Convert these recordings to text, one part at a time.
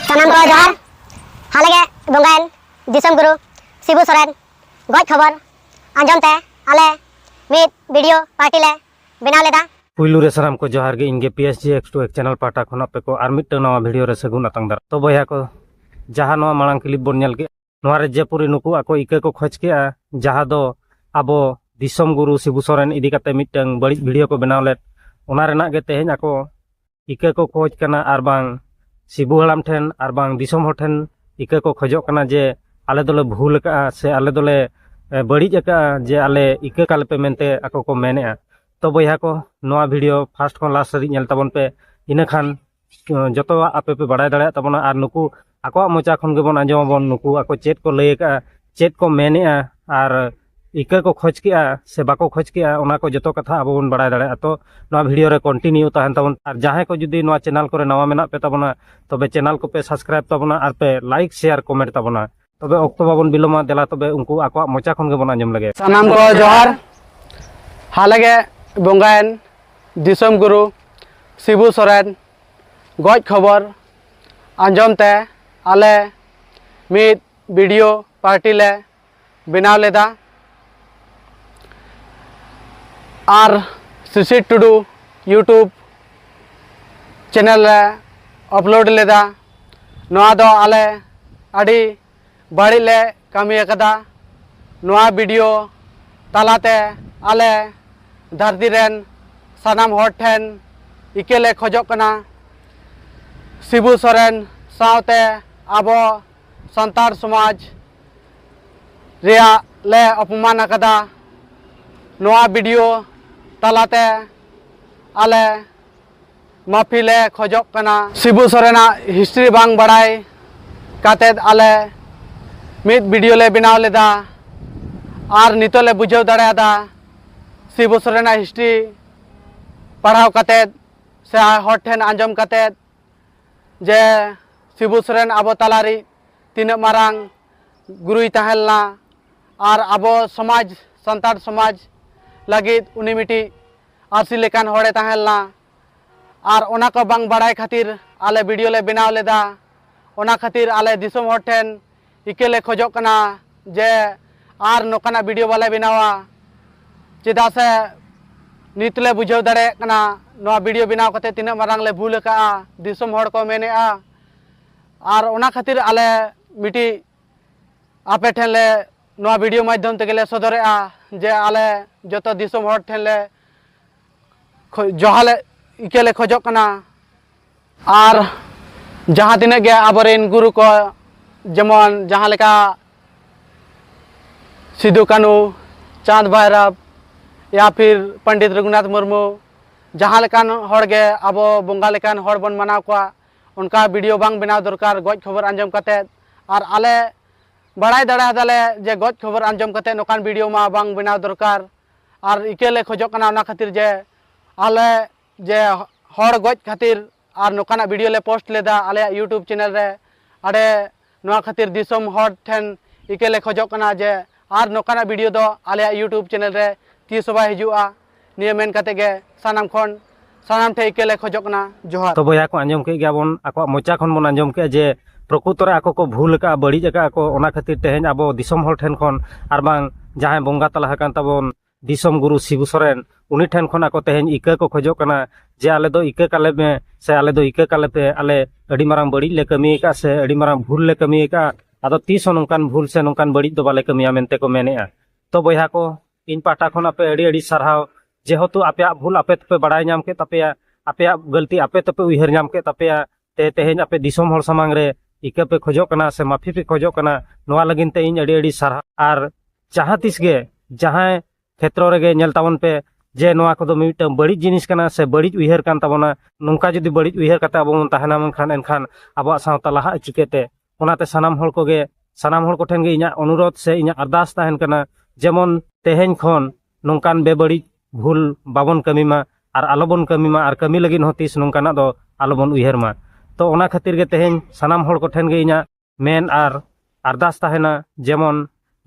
ᱥᱟᱱᱟᱢ ᱠᱚ ᱡᱚᱦᱟᱨ ᱦᱟᱞᱮᱜᱮ ᱵᱚᱸᱜᱟᱭᱮᱱ ᱫᱤᱥᱚᱢ ᱜᱩᱨᱩ ᱥᱤᱵᱩ ᱥᱚᱨᱮᱱ ᱜᱚᱡ ᱠᱷᱚᱵᱚᱨ ᱟᱸᱡᱚᱢ ᱛᱮ ᱟᱞᱮ ᱢᱤᱫ ᱵᱷᱤᱰᱤᱭᱳ ᱯᱟᱨᱴᱤ ᱞᱮ ᱵᱮᱱᱟᱣ ᱞᱮᱫᱟ ᱯᱩᱭᱞᱩ ᱨᱮ ᱥᱟᱱᱟᱢ ᱠᱚ ᱡᱚᱦᱟᱨ ᱜᱮ ᱤᱧᱜᱮ P S G X two X channel ᱯᱟᱦᱴᱟ ᱠᱷᱚᱱ ᱟᱯᱮ ᱠᱚ ᱟᱨ ᱢᱤᱫᱴᱟᱝ ᱱᱟᱣᱟ ᱵᱷᱤᱰᱤᱭᱳ ᱨᱮ ᱥᱟᱹᱜᱩᱱ ᱟᱛᱟᱝ ᱫᱟᱨᱟ ᱛᱚ ᱵᱚᱭᱦᱟ ᱠᱚ ᱡᱟᱦᱟᱸ ᱱᱚᱣᱟ ᱢᱟᱲᱟᱝ ᱠᱞᱤᱯ ᱵᱚᱱ ᱧᱮᱞ ᱠᱮᱫ ᱱᱚᱣᱟ ᱨᱮ ᱡᱮᱯᱩᱨᱤ ᱱᱩᱠᱩ ᱟᱠᱚ ᱤᱠᱟᱹ ᱠᱚ ᱠᱷᱚᱡᱽ ᱠᱮᱫᱼᱟ ᱡᱟᱦᱟᱸ ᱫᱚ ᱟᱵᱚ ᱫᱤᱥᱚᱢ ᱜᱩᱨᱩ ᱥᱤᱵᱩ ᱥᱚᱨᱮᱱ ᱤᱫᱤ ᱠᱟᱛᱮ ᱢᱤᱫᱴᱟᱝ ᱵᱟᱹᱲᱤᱡ ᱵᱷᱤᱰᱤᱭᱳ ᱠᱚ ᱵᱮᱱᱟᱣ ᱞᱮᱫ ᱚᱱᱟ ᱨᱮᱱᱟᱜ ᱜᱮ ᱛᱮᱦᱮᱧ ᱟᱠᱚ ᱤᱠᱟᱹ ᱠᱚ ᱠᱷᱚᱡᱽ ᱠᱟᱱᱟ ᱟᱨ ᱵᱟᱝ ᱥᱤᱵᱩ ᱦᱟᱲᱟᱢ ᱴᱷᱮᱱ ᱟᱨ ᱵᱟᱝ ᱫᱤᱥᱚᱢ ᱦᱚᱲ ᱴᱷᱮᱱ ᱤᱠᱟᱹ ᱠᱚ ᱠᱷᱚᱡᱚᱜ ᱠᱟᱱᱟ ᱡᱮ ᱟᱞᱮ ᱫᱚᱞᱮ ᱵᱷᱩᱞ ᱟᱠᱟᱫᱼᱟ ᱥᱮ ᱟᱞᱮ ᱫᱚᱞᱮ ᱵᱟᱹᱲᱤᱡ ᱟᱠᱟᱫᱼᱟ ᱡᱮ ᱟᱞᱮ ᱤᱠᱟᱹ ᱠᱟᱞᱮ ᱯᱮ ᱢᱮᱱᱛᱮ ᱟᱠᱚ ᱠᱚ ᱢᱮᱱᱮᱫᱼᱟ ᱛᱚ ᱵᱚᱭᱦᱟ ᱠᱚ ᱱᱚᱣᱟ ᱵᱷᱤᱰᱤᱭᱳ ᱯᱷᱟᱥᱴ ᱠᱷᱚᱱ ᱞᱟᱥᱴ ᱫᱷᱟᱹᱨᱤᱡ ᱧᱮᱞ ᱛᱟᱵᱚᱱ ᱯᱮ ᱤᱱᱟᱹ ᱠᱷᱟᱱ ᱡᱚᱛᱚᱣᱟᱜ ᱟᱯᱮ ᱯᱮ ᱵᱟᱲᱟᱭ ᱫᱟᱲᱮᱭᱟᱜ ᱛᱟᱵᱚᱱᱟ ᱟᱨ ᱱᱩᱠᱩ ᱟᱠᱚᱣᱟᱜ ᱢᱚᱪᱟ ᱠᱷᱚᱱ ᱜᱮᱵᱚᱱ ᱟᱸᱡᱚᱢ ᱟᱵᱚᱱ ᱱᱩᱠᱩ ᱟᱠᱚ ᱪᱮᱫ ᱠᱚ ᱞᱟᱹᱭ ᱟᱠᱟᱫᱼᱟ ᱪᱮᱫ ᱠᱚ ᱢᱮᱱᱮᱫᱼᱟ ᱟᱨ ᱤᱠᱟᱹ ᱠᱚ ᱠᱷᱚᱡᱽ ᱠᱮᱫᱼᱟ ᱥᱮ ᱵᱟᱠᱚ ᱠᱷᱚᱡᱽ ᱠᱮᱫᱼᱟ ᱚᱱᱟ ᱠᱚ ᱡᱚᱛᱚ ᱠᱟᱛᱷᱟ ᱟᱵᱚ ᱵᱚᱱ ᱵᱟᱲᱟᱭ ᱫᱟᱲᱮᱭᱟᱜᱼᱟ ᱛᱚ ᱱᱚᱣᱟ ᱵᱷᱤᱰᱤᱭᱳ ᱨᱮ ᱠᱚᱱᱴᱤᱱᱤᱭᱩ ᱛᱟᱦᱮᱱ ᱛᱟᱵᱚᱱ ᱟᱨ ᱡᱟᱦᱟᱸᱭ ᱠᱚ ᱡᱩᱫᱤ ᱱᱚᱣᱟ ᱪᱮᱱᱮᱞ ᱠᱚᱨᱮ ᱱᱟᱣᱟ ᱢᱮᱱᱟᱜ ᱯᱮ ᱛᱟᱵᱚᱱᱟ ᱛᱚᱵᱮ ᱪᱮᱱᱮᱞ ᱠᱚᱯᱮ ᱥᱟᱵᱥᱠᱨᱟᱭᱤᱵ ᱛᱟᱵᱚᱱᱟ ᱟᱨ ᱯᱮ ᱞᱟᱭᱤᱠ ᱥᱮᱭᱟᱨ ᱠᱚᱢᱮᱱᱴ ᱛᱟᱵᱚᱱᱟ ᱛᱚᱵᱮ ᱚᱠᱛᱚ ᱵᱟᱵᱚᱱ ᱵᱤᱞᱚᱢᱟ ᱫᱮᱞᱟ ᱛᱚᱵᱮ ᱩᱱᱠᱩ ᱟᱠᱚᱣᱟᱜ ᱢᱚᱪᱟ ᱠᱷᱚᱱ ᱜᱮᱵᱚᱱ ᱟᱸᱡᱚᱢ ᱞᱮᱜᱮ ᱥᱟᱱᱟᱢ ᱠᱚ ᱡᱚᱦᱟᱨ ᱦᱟᱞᱮᱜᱮ ᱵᱚᱸᱜᱟᱭᱮᱱ ᱫᱤᱥᱚᱢ ᱜᱩᱨᱩ ᱥᱤᱵᱩ ᱥᱚᱨᱮᱱ ᱜᱚᱡ ᱠᱷᱚᱵᱚᱨ ᱟᱸᱡᱚᱢ ᱛᱮ ᱟᱞᱮ ᱢᱤᱫ ᱵᱷᱤᱰᱤᱭᱳ ᱯᱟᱨᱴᱤ ᱞᱮ ᱵᱮᱱᱟᱣ ᱞᱮᱫᱟ ᱟᱨ ᱥᱩᱥᱤᱨ ᱴᱩᱰᱩ ᱤᱭᱩᱴᱩᱵᱽ ᱪᱮᱱᱮᱞ ᱨᱮ ᱟᱯᱞᱳᱰ ᱞᱮᱫᱟ ᱱᱚᱣᱟ ᱫᱚ ᱟᱞᱮ ᱟᱹᱰᱤ ᱵᱟᱹᱲᱤᱡ ᱞᱮ ᱠᱟᱹᱢᱤ ᱟᱠᱟᱫᱟ ᱱᱚᱣᱟ ᱵᱷᱤᱰᱤᱭᱳ ᱛᱟᱞᱟᱛᱮ ᱟᱞᱮ ᱫᱷᱟᱹᱨᱛᱤ ᱨᱮᱱ ᱥᱟᱱᱟᱢ ᱦᱚᱲ ᱴᱷᱮᱱ ᱤᱠᱟᱹ ᱞᱮ ᱠᱷᱚᱡᱚᱜ ᱠᱟᱱᱟ ᱥᱤᱵᱩ ᱥᱚᱨᱮᱱ ᱥᱟᱶᱛᱮ ᱟᱵᱚ ᱥᱟᱱᱛᱟᱲ ᱥᱚᱢᱟᱡᱽ ᱨᱮᱭᱟᱜ ᱞᱮ ᱚᱯᱚᱢᱟᱱ ᱟᱠᱟᱫᱟ ᱱᱚᱣᱟ ᱵᱷᱤᱰᱤᱭᱳ ᱛᱟᱞᱟᱛᱮ ᱟᱞᱮ ᱢᱟᱯᱷᱤ ᱞᱮ ᱠᱷᱚᱡᱚᱜ ᱠᱟᱱᱟ ᱥᱤᱵᱩ ᱥᱚᱨᱮᱱᱟᱜ ᱦᱤᱥᱴᱨᱤ ᱵᱟᱝ ᱵᱟᱲᱟᱭ ᱠᱟᱛᱮᱫ ᱟᱞᱮ ᱢᱤᱫ ᱵᱷᱤᱰᱤᱭᱳ ᱞᱮ ᱵᱮᱱᱟᱣ ᱞᱮᱫᱟ ᱟᱨ ᱱᱤᱛᱚᱜ ᱞᱮ ᱵᱩᱡᱷᱟᱹᱣ ᱫᱟᱲᱮᱭᱟᱫᱟ ᱥᱤᱵᱩ ᱥᱚᱨᱮᱱᱟᱜ ᱦᱤᱥᱴᱨᱤ ᱯᱟᱲᱦᱟᱣ ᱠᱟᱛᱮᱫ ᱥᱮ ᱦᱚᱲ ᱴᱷᱮᱱ ᱟᱸᱡᱚᱢ ᱠᱟᱛᱮᱫ ᱡᱮ ᱥᱤᱵᱩ ᱥᱚᱨᱮᱱ ᱟᱵᱚ ᱛᱟᱞᱟᱨᱤᱡ ᱛᱤᱱᱟᱹᱜ ᱢᱟᱨᱟᱝ ᱜᱩᱨᱩᱭ ᱛᱟᱦᱮᱸ ᱞᱮᱱᱟ ᱟᱨ ᱟᱵᱚ ᱥᱚᱢᱟᱡᱽ ᱥᱟᱱᱛᱟᱲ ᱥᱚᱢᱟᱡᱽ ᱞᱟᱹᱜᱤᱫ ᱩᱱᱤ ᱢᱤᱫᱴᱤᱡ ᱟᱹᱥᱤ ᱞᱮᱠᱟᱱ ᱦᱚᱲᱮ ᱛᱟᱦᱮᱸ ᱞᱮᱱᱟ ᱟᱨ ᱚᱱᱟ ᱠᱚ ᱵᱟᱝ ᱵᱟᱲᱟᱭ ᱠᱷᱟᱹᱛᱤᱨ ᱟᱞᱮ ᱵᱷᱤᱰᱤᱭᱳ ᱞᱮ ᱵᱮᱱᱟᱣ ᱞᱮᱫᱟ ᱚᱱᱟ ᱠᱷᱟᱹᱛᱤᱨ ᱟᱞᱮ ᱫᱤᱥᱚᱢ ᱦᱚᱲ ᱴᱷᱮᱱ ᱤᱠᱟᱹ ᱞᱮ ᱠᱷᱚᱡᱚᱜ ᱠᱟᱱᱟ ᱡᱮ ᱟᱨ ᱱᱚᱝᱠᱟᱱᱟᱜ ᱵᱷᱤᱰᱤᱭᱳ ᱵᱟᱞᱮ ᱵᱮᱱᱟᱣᱟ ᱪᱮᱫᱟᱜ ᱥᱮ ᱱᱤᱛ ᱞᱮ ᱵᱩᱡᱷᱟᱹᱣ ᱫᱟᱲᱮᱭᱟᱜ ᱠᱟᱱᱟ ᱱᱚᱣᱟ ᱵᱷᱤᱰᱤᱭᱳ ᱵᱮᱱᱟᱣ ᱠᱟᱛᱮ ᱛᱤᱱᱟᱹᱜ ᱢᱟᱨᱟᱝ ᱞᱮ ᱵᱷᱩᱞ ᱟᱠᱟᱜᱼᱟ ᱫᱤᱥᱚᱢ ᱦᱚᱲ ᱠᱚ ᱢᱮᱱᱮᱜᱼᱟ ᱟᱨ ᱚᱱᱟ ᱠᱷᱟᱹᱛᱤᱨ ᱟᱞᱮ ᱢᱤᱫᱴᱤᱡ ᱟᱯᱮ ᱴᱷᱮᱱ ᱞᱮ ᱱᱚᱣᱟ ᱵᱷᱤᱰᱤᱭᱳ ᱢᱟᱫᱽᱫᱷᱚᱢ ᱛᱮᱜᱮ ᱞᱮ ᱥᱚᱫᱚᱨᱮᱜᱼᱟ ᱡᱮ ᱟᱞᱮ ᱡᱚᱛᱚ ᱫᱤᱥᱚᱢ ᱦᱚᱲ ᱴᱷᱮᱱ ᱞᱮ ᱡᱚᱦᱟᱞᱮ ᱤᱠᱟᱹ ᱞᱮ ᱠᱷᱚᱡᱚᱜ ᱠᱟᱱᱟ ᱟᱨ ᱡᱟᱦᱟᱸ ᱛᱤᱱᱟᱹᱜ ᱜᱮ ᱟᱵᱚᱨᱮᱱ ᱜᱩᱨᱩ ᱠᱚ ᱡᱮᱢᱚᱱ ᱡᱟᱦᱟᱸ ᱞᱮᱠᱟ ᱥᱤᱫᱩ ᱠᱟᱹᱱᱩ ᱪᱟᱸᱫᱽ ᱵᱷᱟᱭᱨᱟᱵᱽ ᱭᱟ ᱯᱷᱤᱨ ᱯᱚᱱᱰᱤᱛ ᱨᱚᱜᱷᱩᱱᱟᱛᱷ ᱢᱩᱨᱢᱩ ᱡᱟᱦᱟᱸ ᱞᱮᱠᱟᱱ ᱦᱚᱲ ᱜᱮ ᱟᱵᱚ ᱵᱚᱸᱜᱟ ᱞᱮᱠᱟᱱ ᱦᱚᱲ ᱵᱚᱱ ᱢᱟᱱᱟᱣ ᱠᱚᱣᱟ ᱚᱱᱠᱟ ᱵᱷᱤᱰᱤᱭᱳ ᱵᱟᱝ ᱵᱮᱱᱟᱣ ᱫᱚᱨᱠᱟᱨ ᱜᱚᱡ ᱠᱷᱚᱵᱚᱨ ᱟᱸᱡᱚᱢ ᱠᱟᱛᱮᱫ ᱟᱨ ᱟᱞᱮ ᱵᱟᱲᱟᱭ ᱫᱟᱲᱮ ᱟᱫᱟᱞᱮ ᱡᱮ ᱜᱚᱡ ᱠᱷᱚᱵᱚᱨ ᱟᱸᱡᱚᱢ ᱠᱟᱛᱮ ᱱᱚᱠᱟᱱ ᱵᱷᱤᱰᱤᱭᱳ ᱢᱟ ᱵᱟᱝ ᱵᱮᱱᱟᱣ ᱫᱚᱨᱠᱟᱨ ᱟᱨ ᱤᱠᱟᱹ ᱞᱮ ᱠᱷᱚᱡᱚᱜ ᱠᱟᱱᱟ ᱚᱱᱟ ᱠᱷᱟᱹᱛᱤᱨ ᱡᱮ ᱟᱞᱮ ᱡᱮ ᱦᱚᱲ ᱜᱚᱡ ᱠᱷᱟᱹᱛᱤᱨ ᱟᱨ ᱱᱚᱠᱟᱱᱟᱜ ᱵᱷᱤᱰᱤᱭᱳ ᱞᱮ ᱯᱳᱥᱴ ᱞᱮᱫᱟ ᱟᱞᱮᱭᱟᱜ ᱤᱭᱩᱴᱩᱵᱽ ᱪᱮᱱᱮᱞ ᱨᱮ ᱟᱰᱮ ᱱᱚᱣᱟ ᱠᱷᱟᱹᱛᱤᱨ ᱫᱤᱥᱚᱢ ᱦᱚᱲ ᱴᱷᱮᱱ ᱤᱠᱟᱹ ᱞᱮ ᱠᱷᱚᱡᱚᱜ ᱠᱟᱱᱟ ᱡᱮ ᱟᱨ ᱱᱚᱠᱟᱱᱟᱜ ᱵᱷᱤᱰᱤᱭᱳ ᱫᱚ ᱟᱞᱮᱭᱟᱜ ᱤᱭᱩᱴᱩᱵᱽ ᱪᱮᱱᱮᱞ ᱨᱮ ᱛᱤᱥ ᱦᱚᱸ ᱵᱟᱭ ᱦᱤᱡᱩᱜᱼᱟ ᱱᱤᱭᱟᱹ ᱢᱮᱱ ᱠᱟᱛᱮ ᱜᱮ ᱥᱟᱱᱟᱢ ᱠᱷᱚᱱ ᱥᱟᱱᱟᱢ ᱴᱷᱮᱱ ᱤᱠᱟᱹ ᱞᱮ ᱠᱷᱚᱡᱚᱜ ᱠᱟᱱᱟ ᱡᱚᱦᱟᱨ ᱛᱚ ᱵᱚᱭᱦᱟ ᱠᱚ ᱟᱸᱡᱚᱢ ᱠᱮᱫ ᱜᱮᱭᱟ ᱵᱚᱱ ᱟᱠᱚᱣᱟᱜ ᱢᱚᱪᱟ ᱠᱷᱚᱱ ᱵᱚᱱ ᱟᱸᱡᱚᱢ ᱠᱮᱫᱼᱟ ᱡᱮ ᱯᱨᱚᱠᱩᱛᱚ ᱨᱮ ᱟᱠᱚ ᱠᱚ ᱵᱷᱩᱞ ᱟᱠᱟᱫᱼᱟ ᱵᱟᱹᱲᱤᱡ ᱟᱠᱟᱫᱼᱟ ᱠᱚ ᱚᱱᱟ ᱠᱷᱟᱹᱛᱤᱨ ᱛᱮᱦᱮᱧ ᱟᱵᱚ ᱫᱤᱥᱚᱢ ᱦᱚᱲ ᱴᱷᱮᱱ ᱠᱷᱚᱱ ᱟᱨ ᱵᱟᱝ ᱡᱟᱦᱟᱸᱭ ᱵᱚᱸᱜᱟ ᱛᱟᱞᱟ ᱟᱠᱟᱱ ᱛᱟᱵᱚᱱ ᱫᱤᱥᱚᱢ ᱜᱩᱨᱩ ᱥᱤᱵᱩ ᱥᱚᱨᱮᱱ ᱩᱱᱤ ᱴᱷᱮᱱ ᱠᱷᱚᱱ ᱟᱠᱚ ᱛᱮᱦᱮᱧ ᱤᱠᱟᱹ ᱠᱚ ᱠᱷᱚᱡᱚᱜ ᱠᱟᱱᱟ ᱡᱮ ᱟᱞᱮ ᱫᱚ ᱤᱠᱟᱹ ᱠᱟᱞᱮ ᱢᱮ ᱥᱮ ᱟᱞᱮ ᱫᱚ ᱤᱠᱟᱹ ᱠᱟᱞᱮ ᱯᱮ ᱟᱞᱮ ᱟᱹᱰᱤ ᱢᱟᱨᱟᱝ ᱵᱟᱹᱲᱤᱡ ᱞᱮ ᱠᱟᱹᱢᱤ ᱟᱠᱟᱫᱼᱟ ᱥᱮ ᱟᱹᱰᱤ ᱢᱟᱨᱟᱝ ᱵᱷᱩᱞ ᱞᱮ ᱠᱟᱹᱢᱤ ᱟᱠᱟᱫᱼᱟ ᱟᱫᱚ ᱛᱤᱥ ᱦᱚᱸ ᱱᱚᱝᱠᱟᱱ ᱵᱷᱩᱞ ᱥᱮ ᱱᱚᱝᱠᱟᱱ ᱵᱟᱹᱲᱤᱡ ᱫᱚ ᱵᱟᱞᱮ ᱠᱟᱹᱢᱤᱭᱟ ᱢᱮᱱᱛᱮ ᱠᱚ ᱢᱮᱱᱮᱫᱼᱟ ᱛᱚ ᱵᱚᱭᱦᱟ ᱠᱚ ᱤᱧ ᱯᱟᱦᱴᱟ ᱠᱷᱚᱱ ᱟᱯᱮ ᱟᱹᱰᱤ ᱟᱹᱰᱤ ᱥᱟᱨᱦᱟᱣ ᱡᱮᱦᱮᱛᱩ ᱟᱯᱮᱭᱟᱜ ᱵᱷᱩᱞ ᱟᱯᱮ ᱛᱮᱯᱮ ᱵᱟᱲᱟᱭ ᱧᱟᱢ ᱠᱮᱫ ᱛᱟᱯᱮᱭᱟ ᱟᱯᱮᱭᱟᱜ ᱜᱟᱹᱞᱛᱤ ᱟᱯᱮ ᱛᱮᱯᱮ ᱩᱭᱦᱟᱹᱨ ᱧᱟᱢ ᱠᱮᱫ ᱛᱟᱯᱮᱭᱟ ᱛᱮ ᱛᱮᱦᱮᱧ ᱟᱯᱮ ᱫᱤᱥᱚᱢ ᱦᱚᱲ ᱥᱟᱢᱟᱝ ᱨᱮ ᱤᱠᱟᱹ ᱯᱮ ᱠᱷᱚᱡᱚᱜ ᱠᱟᱱᱟ ᱥᱮ ᱢᱟᱯᱷᱤ ᱯᱮ ᱠᱷᱚᱡᱚᱜ ᱠᱟᱱᱟ ᱱᱚᱣᱟ ᱞᱟᱹᱜᱤᱫ ᱛᱮ ᱤᱧ ᱟᱹᱰᱤ ᱟᱹᱰᱤ ᱥᱟᱨᱦᱟᱣ ᱟᱨ ᱡᱟᱦᱟᱸ ᱛᱤᱥ ᱜᱮ ᱡᱟᱦᱟᱸᱭ ᱠᱷᱮᱛᱨᱚ ᱨᱮᱜᱮ ᱧᱮᱞ ᱛᱟᱵᱚᱱ ᱯᱮ ᱡᱮ ᱱᱚᱣᱟ ᱠᱚᱫᱚ ᱢᱤᱫᱴᱟᱝ ᱵᱟᱹᱲᱤᱡ ᱡᱤᱱᱤᱥ ᱠᱟᱱᱟ ᱥᱮ ᱵᱟᱹᱲᱤᱡ ᱩᱭᱦᱟᱹᱨ ᱠᱟᱱ ᱛᱟᱵᱚᱱᱟ ᱱᱚᱝᱠᱟ ᱡᱩᱫᱤ ᱵᱟᱹᱲᱤᱡ ᱩᱭᱦᱟᱹᱨ ᱠᱟᱛᱮ ᱟᱵᱚ ᱵᱚᱱ ᱛᱟᱦᱮᱱᱟ ᱢᱮᱱᱠᱷᱟᱱ ᱮᱱᱠᱷᱟᱱ ᱟᱵᱚᱣᱟᱜ ᱥᱟᱶᱛᱟ ᱞᱟᱦᱟᱜᱼᱟ ᱪᱤᱠᱟᱹᱛᱮ ᱚᱱᱟᱛᱮ ᱥᱟᱱᱟᱢ ᱦᱚᱲ ᱠᱚᱜᱮ ᱥᱟᱱᱟᱢ ᱦᱚᱲ ᱠᱚᱴᱷᱮᱱ ᱜᱮ ᱤᱧᱟᱹᱜ ᱚᱱᱩᱨᱳᱫᱷ ᱥᱮ ᱤᱧᱟᱹᱜ ᱟᱨᱫᱟᱥ ᱛᱟᱦᱮᱱ ᱠᱟᱱᱟ ᱡᱮᱢᱚᱱ ᱛᱮᱦᱮᱧ ᱠᱷᱚᱱ ᱱᱚᱝᱠᱟᱱ ᱵᱮᱵᱟᱹᱲᱤᱡ ᱵᱷᱩᱞ ᱵᱟᱵᱚᱱ ᱠᱟᱹᱢᱤ ᱢᱟ ᱟᱨ ᱟᱞᱚᱵᱚᱱ ᱠᱟᱹᱢᱤ ᱢᱟ ᱟᱨ ᱠᱟᱹᱢᱤ ᱞᱟᱹᱜᱤᱫ ᱦᱚᱸ ᱛᱤᱥ ᱱᱚᱝᱠᱟᱱᱟᱜ ᱫᱚ ᱟᱞᱚᱵᱚᱱ ᱩᱭᱦᱟᱹᱨ ᱢᱟ ᱛᱚ ᱚᱱᱟ ᱠᱷᱟᱹᱛᱤᱨ ᱜᱮ ᱛᱮᱦᱮᱧ ᱥᱟᱱᱟᱢ ᱦᱚᱲ ᱠᱚᱴᱷᱮᱱ ᱜᱮ ᱤᱧᱟᱹᱜ ᱢᱮᱱ ᱟᱨ ᱟᱨᱫᱟᱥ ᱛᱟᱦᱮᱱᱟ ᱡᱮᱢᱚᱱ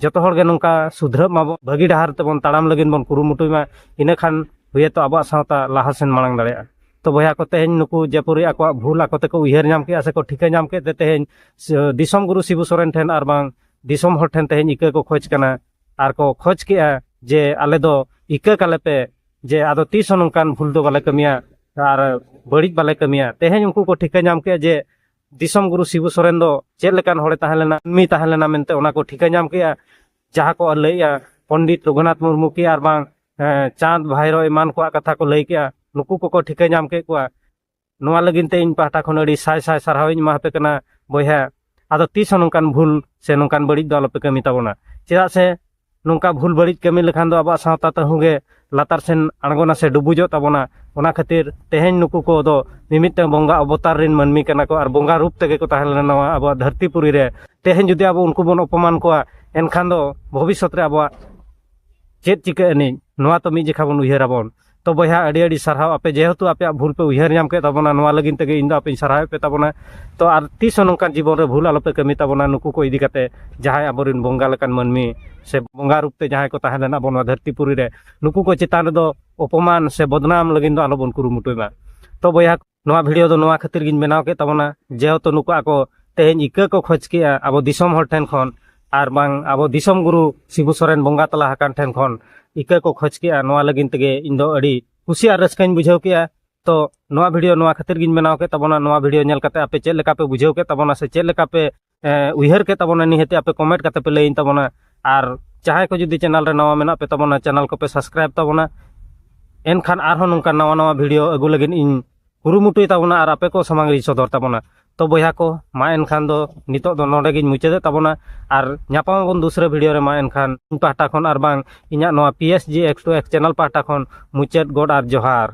ᱡᱚᱛᱚ ᱦᱚᱲ ᱜᱮ ᱱᱚᱝᱠᱟ ᱥᱩᱫᱷᱨᱟᱹᱜ ᱢᱟᱵᱚᱱ ᱵᱷᱟᱹᱜᱤ ᱰᱟᱦᱟᱨ ᱛᱮᱵᱚᱱ ᱛᱟᱲᱟᱢ ᱞᱟᱹᱜᱤᱫ ᱵᱚᱱ ᱠᱩᱨᱩᱢᱩᱴᱩᱭ ᱢᱟ ᱤᱱᱟᱹ ᱠᱷᱟᱱ ᱦᱩᱭᱮᱛᱚ ᱟᱵᱚᱣᱟᱜ ᱥᱟᱶᱛᱟ ᱞᱟᱦᱟ ᱥᱮᱱ ᱢᱟᱲᱟᱝ ᱫᱟᱲᱮᱭᱟᱜᱼᱟ ᱛᱚ ᱵᱚᱭᱦᱟ ᱠᱚ ᱛᱮᱦᱮᱧ ᱱᱩᱠᱩ ᱡᱮᱯᱩᱨᱤ ᱟᱠᱚᱣᱟᱜ ᱵᱷᱩᱞ ᱟᱠᱚ ᱛᱮᱠᱚ ᱩᱭᱦᱟᱹᱨ ᱧᱟᱢ ᱠᱮᱜᱼᱟ ᱥᱮᱠᱚ ᱴᱷᱤᱠᱟᱹ ᱧᱟᱢ ᱠᱮᱫ ᱛᱮ ᱛᱮᱦᱮᱧ ᱫᱤᱥᱚᱢ ᱜᱩᱨᱩ ᱥᱤᱵᱩ ᱥᱚᱨᱮᱱ ᱴᱷᱮᱱ ᱟᱨ ᱵᱟᱝ ᱫᱤᱥᱚᱢ ᱦᱚᱲ ᱴᱷᱮᱱ ᱛᱮᱦᱮᱧ ᱤᱠᱟᱹ ᱠᱚ ᱠᱷᱚᱡᱽ ᱠᱟᱱᱟ ᱟᱨ ᱠᱚ ᱠᱷᱚᱡᱽ ᱠᱮᱜᱼᱟ ᱡᱮ ᱟᱞᱮ ᱫᱚ ᱤᱠᱟᱹ ᱠᱟᱞᱮ ᱯᱮ ᱡᱮ ᱟᱫᱚ ᱛᱤᱥ ᱦᱚᱸ ᱱᱚᱝᱠᱟᱱ ᱵᱷᱩᱞ ᱫᱚ ᱵᱟᱞᱮ ᱠᱟᱹᱢᱤᱭᱟ ᱟᱨ ᱵᱟᱹᱲᱤᱡ ᱵᱟᱞᱮ ᱠᱟᱹᱢᱤᱭᱟ ᱛᱮᱦᱮᱧ ᱩᱱᱠᱩ ᱠᱚ ᱴᱷᱤᱠᱟᱹ ᱧᱟᱢ ᱠᱮᱜᱼᱟ ᱡᱮ ᱫᱤᱥᱚᱢ ᱜᱩᱨᱩ ᱥᱤᱵᱩ ᱥᱚᱨᱮᱱ ᱫᱚ ᱪᱮᱫ ᱞᱮᱠᱟᱱ ᱦᱚᱲᱮ ᱛᱟᱦᱮᱸ ᱞᱮᱱᱟ ᱢᱤ ᱛᱟᱦᱮᱸ ᱞᱮᱱᱟ ᱢᱮᱱᱛᱮ ᱚᱱᱟ ᱠᱚ ᱴᱷᱤᱠᱟᱹ ᱧᱟᱢ ᱠᱮᱜᱼᱟ ᱡᱟᱦᱟᱸ ᱠᱚ ᱞᱟᱹᱭᱮᱜᱼᱟ ᱯᱚᱱᱰᱤᱛ ᱨᱚᱜᱷᱩᱱᱟᱛᱷ ᱢᱩᱨᱢᱩ ᱠᱤ ᱟᱨ ᱵᱟᱝ ᱪᱟᱸᱫᱽ ᱵᱷᱟᱭᱨᱚ ᱮᱢᱟᱱ ᱠᱚᱣᱟᱜ ᱠᱟᱛᱷᱟ ᱠᱚ ᱞᱟᱹᱭ ᱠᱮᱜᱼᱟ ᱱᱩᱠᱩ ᱠᱚᱠᱚ ᱴᱷᱤᱠᱟᱹ ᱧᱟᱢ ᱠᱮᱫ ᱠᱚᱣᱟ ᱱᱚᱣᱟ ᱞᱟᱹᱜᱤᱫ ᱛᱮ ᱤᱧ ᱯᱟᱦᱴᱟ ᱠᱷᱚᱱ ᱟᱹᱰᱤ ᱥᱟᱭ ᱥᱟᱭ ᱥᱟᱨᱦᱟᱣ ᱤᱧ ᱮᱢᱟ ᱟᱯᱮ ᱠᱟᱱᱟ ᱵᱚᱭᱦᱟ ᱟᱫᱚ ᱛᱤᱥ ᱦᱚᱸ ᱱᱚᱝᱠᱟᱱ ᱵᱷᱩᱞ ᱥᱮ ᱱᱚᱝᱠᱟᱱ ᱵᱟᱹᱲᱤᱡ ᱫᱚ ᱟᱞᱚᱯᱮ ᱠᱟᱹᱢᱤ ᱛᱟᱵᱚᱱᱟ ᱪᱮᱫᱟᱜ ᱥᱮ ᱱᱚᱝᱠᱟ ᱵᱷᱩᱞ ᱵᱟᱹᱲᱤᱡ ᱠᱟᱹᱢᱤ ᱞᱮᱠᱷᱟᱱ ᱫᱚ ᱟᱵᱚᱣᱟᱜ ᱥᱟᱶᱛᱟ ᱛᱟᱹᱦᱩ ᱜᱮ ᱞᱟᱛᱟᱨ ᱥᱮᱱ ᱟᱬᱜᱚᱱᱟ ᱥᱮ ᱰᱩᱵᱩᱡᱚᱜ ᱛᱟᱵᱚᱱᱟ ᱚᱱᱟ ᱠᱷᱟᱹᱛᱤᱨ ᱛᱮᱦᱮᱧ ᱱᱩᱠᱩ ᱠᱚᱫᱚ ᱢᱤᱢᱤᱫᱴᱟᱝ ᱵᱚᱸᱜᱟ ᱚᱵᱚᱛᱟᱨ ᱨᱮᱱ ᱢᱟᱹᱱᱢᱤ ᱠᱟᱱᱟ ᱠᱚ ᱟᱨ ᱵᱚᱸᱜᱟ ᱨᱩᱯ ᱛᱮᱜᱮ ᱠᱚ ᱛᱟᱦᱮᱸ ᱞᱮᱱᱟ ᱱᱚᱣᱟ ᱟᱵᱚᱣᱟᱜ ᱫᱷᱟᱹᱨᱛᱤ ᱯᱩᱨᱤ ᱨᱮ ᱛᱮᱦᱮᱧ ᱡᱩᱫᱤ ᱟᱵᱚ ᱩᱱᱠᱩ ᱵᱚᱱ ᱚᱯᱚᱢᱟᱱ ᱠᱚᱣᱟ ᱮᱱᱠᱷᱟᱱ ᱫᱚ ᱵᱷᱚᱵᱤᱥᱥᱚᱛ ᱨᱮ ᱟᱵᱚᱣᱟᱜ ᱪᱮᱫ ᱪᱤᱠᱟᱹᱜ ᱟᱹᱱᱤᱡ ᱱᱚᱣᱟ ᱛᱚ ᱢᱤᱫ ᱡᱚᱠᱷᱟ ᱵᱚᱱ ᱩᱭᱦᱟᱹᱨᱟᱵᱚᱱ ᱛᱚ ᱵᱚᱭᱦᱟ ᱟᱹᱰᱤ ᱟᱹᱰᱤ ᱥᱟᱨᱦᱟᱣ ᱟᱯᱮ ᱡᱮᱦᱮᱛᱩ ᱟᱯᱮᱭᱟᱜ ᱵᱷᱩᱞ ᱯᱮ ᱩᱭᱦᱟᱹᱨ ᱧᱟᱢ ᱠᱮᱫ ᱛᱟᱵᱚᱱᱟ ᱱᱚᱣᱟ ᱞᱟᱹᱜᱤᱫ ᱛᱮᱜᱮ ᱤᱧ ᱫᱚ ᱟᱯᱮᱧ ᱥᱟᱨᱦᱟᱣᱮᱫ ᱯᱮ ᱛᱟᱵᱚᱱᱟ ᱛᱚ ᱟᱨ ᱛᱤᱥ ᱦᱚᱸ ᱱᱚᱝᱠᱟᱱ ᱡᱤᱵᱚᱱ ᱨᱮ ᱵᱷᱩᱞ ᱟᱞᱚᱯᱮ ᱠᱟᱹᱢᱤ ᱛᱟᱵᱚᱱᱟ ᱱᱩᱠᱩ ᱠᱚ ᱤᱫᱤ ᱠᱟᱛᱮ ᱡᱟᱦᱟᱸᱭ ᱟᱵᱚᱨᱮᱱ ᱵᱚᱸᱜᱟ ᱞᱮᱠᱟᱱ ᱢᱟᱹᱱᱢᱤ ᱥᱮ ᱵᱚᱸᱜᱟ ᱨᱩᱯ ᱛᱮ ᱡᱟᱦᱟᱸᱭ ᱠᱚ ᱛᱟᱦᱮᱸ ᱞᱮᱱᱟ ᱟᱵᱚ ᱱᱚᱣᱟ ᱫᱷᱟᱹᱨᱛᱤ ᱯᱩᱨᱤ ᱨᱮ ᱱᱩᱠᱩ ᱠᱚ ᱪᱮᱛᱟᱱ ᱨᱮᱫᱚ ᱚᱯᱚᱢᱟᱱ ᱥᱮ ᱵᱚᱫᱱᱟᱢ ᱞᱟᱹᱜᱤᱫ ᱫᱚ ᱟᱞᱚᱵᱚᱱ ᱠᱩᱨᱩᱢᱩᱴᱩᱭ ᱢᱟ ᱛᱚ ᱵᱚᱭᱦᱟ ᱱᱚᱣᱟ ᱵᱷᱤᱰᱤᱭᱳ ᱫᱚ ᱱᱚᱣᱟ ᱠᱷᱟᱹᱛᱤᱨ ᱜᱤᱧ ᱵᱮᱱᱟᱣ ᱠᱮᱫ ᱛᱟᱵᱚᱱᱟ ᱡᱮᱦᱮᱛᱩ ᱱᱩᱠᱩ ᱟᱠᱚ ᱛᱮᱦᱮᱧ ᱤᱠᱟᱹ ᱠᱚ ᱠᱷᱚᱡᱽ ᱠᱮᱜᱼᱟ ᱟᱵᱚ ᱫᱤᱥᱚᱢ ᱦᱚᱲ ᱴᱷᱮᱱ ᱠᱷᱚᱱ ᱟᱨ ᱵᱟᱝ ᱟᱵᱚ ᱫᱤᱥᱚᱢ ᱜᱩᱨᱩ ᱥᱤᱵᱩ ᱥᱚᱨᱮᱱ ᱵᱚᱸᱜᱟ ᱛᱟᱞᱟ ᱟᱠᱟᱱ ᱴᱷᱮᱱ ᱠᱷᱚᱱ ᱤᱠᱟᱹ ᱠᱚ ᱠᱷᱚᱡᱽ ᱠᱮᱜᱼᱟ ᱱᱚᱣᱟ ᱞᱟᱹᱜᱤᱫ ᱛᱮᱜᱮ ᱤᱧ ᱫᱚ ᱟᱹᱰᱤ ᱠᱩᱥᱤ ᱟᱨ ᱨᱟᱹᱥᱠᱟᱹᱧ ᱵᱩᱡᱷᱟᱹᱣ ᱠᱮᱜᱼᱟ ᱛᱚ ᱱᱚᱣᱟ ᱵᱷᱤᱰᱤᱭᱳ ᱱᱚᱣᱟ ᱠᱷᱟᱹᱛᱤᱨ ᱜᱤᱧ ᱵᱮᱱᱟᱣ ᱠᱮᱫ ᱛᱟᱵᱚᱱᱟ ᱱᱚᱣᱟ ᱵᱷᱤᱰᱤᱭᱳ ᱧᱮᱞ ᱠᱟᱛᱮ ᱟᱯᱮ ᱪᱮᱫ ᱞᱮᱠᱟ ᱯᱮ ᱵᱩᱡᱷᱟᱹᱣ ᱠᱮᱫ ᱛᱟᱵᱚᱱᱟ ᱥᱮ ᱪᱮᱫ ᱞᱮᱠᱟ ᱯᱮ ᱩᱭᱦᱟᱹᱨ ᱠᱮᱫ ᱛᱟᱵᱚᱱᱟ ᱱᱤᱦᱟᱹᱛ ᱟᱯᱮ ᱠᱚᱢᱮᱱᱴ ᱠᱟᱛᱮ ᱯᱮ ᱞᱟᱹᱭᱟᱹᱧ ᱛᱟᱵᱚᱱᱟ ᱟᱨ ᱡᱟᱦᱟᱸᱭ ᱠᱚ ᱡᱩᱫᱤ ᱪᱮᱱᱮᱞ ᱨᱮ ᱱᱟᱣᱟ ᱢᱮᱱᱟᱜ ᱯᱮ ᱛᱟᱵᱚᱱᱟ ᱪᱮᱱᱮᱞ ᱠᱚᱯᱮ ᱥᱟᱵᱥᱠᱨᱟᱭᱤᱵᱽ ᱛᱟᱵᱚᱱᱟ ᱮᱱᱠᱷᱟᱱ ᱟᱨᱦᱚᱸ ᱱᱚᱝᱠᱟ ᱱᱟᱣᱟ ᱱᱟᱣᱟ ᱵᱷᱤᱰᱤᱭᱳ ᱟᱹᱜᱩ ᱞᱟᱹᱜᱤᱫ ᱤᱧ ᱠᱩᱨᱩᱢᱩᱴᱩᱭ ᱛᱟᱵᱚᱱᱟ ᱟᱨ ᱟᱯᱮ ᱠᱚ ᱥᱟᱢᱟᱝ ᱨᱤᱧ ᱥᱚᱫᱚᱨ ᱛᱟᱵᱚᱱᱟ ᱛᱚ ᱵᱚᱭᱦᱟ ᱠᱚ ᱢᱟ ᱮᱱᱠᱷᱟᱱ ᱫᱚ ᱱᱤᱛᱚᱜ ᱫᱚ ᱱᱚᱰᱮ ᱜᱤᱧ ᱢᱩᱪᱟᱹᱫᱮᱫ ᱛᱟᱵᱚᱱᱟ ᱟᱨ ᱧᱟᱯᱟᱢ ᱟᱵᱚᱱ ᱫᱩᱥᱨᱟᱹ ᱵᱷᱤᱰᱤᱭᱳ ᱨᱮ ᱢᱟ ᱮᱱᱠᱷᱟᱱ ᱤᱧ ᱯᱟᱦᱴᱟ ᱠᱷᱚᱱ ᱟᱨ ᱵᱟᱝ ᱤᱧᱟᱹᱜ ᱱᱚᱣᱟ P S G X two X channel ᱯᱟᱦᱴᱟ ᱠᱷᱚᱱ ᱢᱩᱪᱟᱹᱫ ᱜᱚᱰ ᱟᱨ ᱡᱚᱦᱟᱨ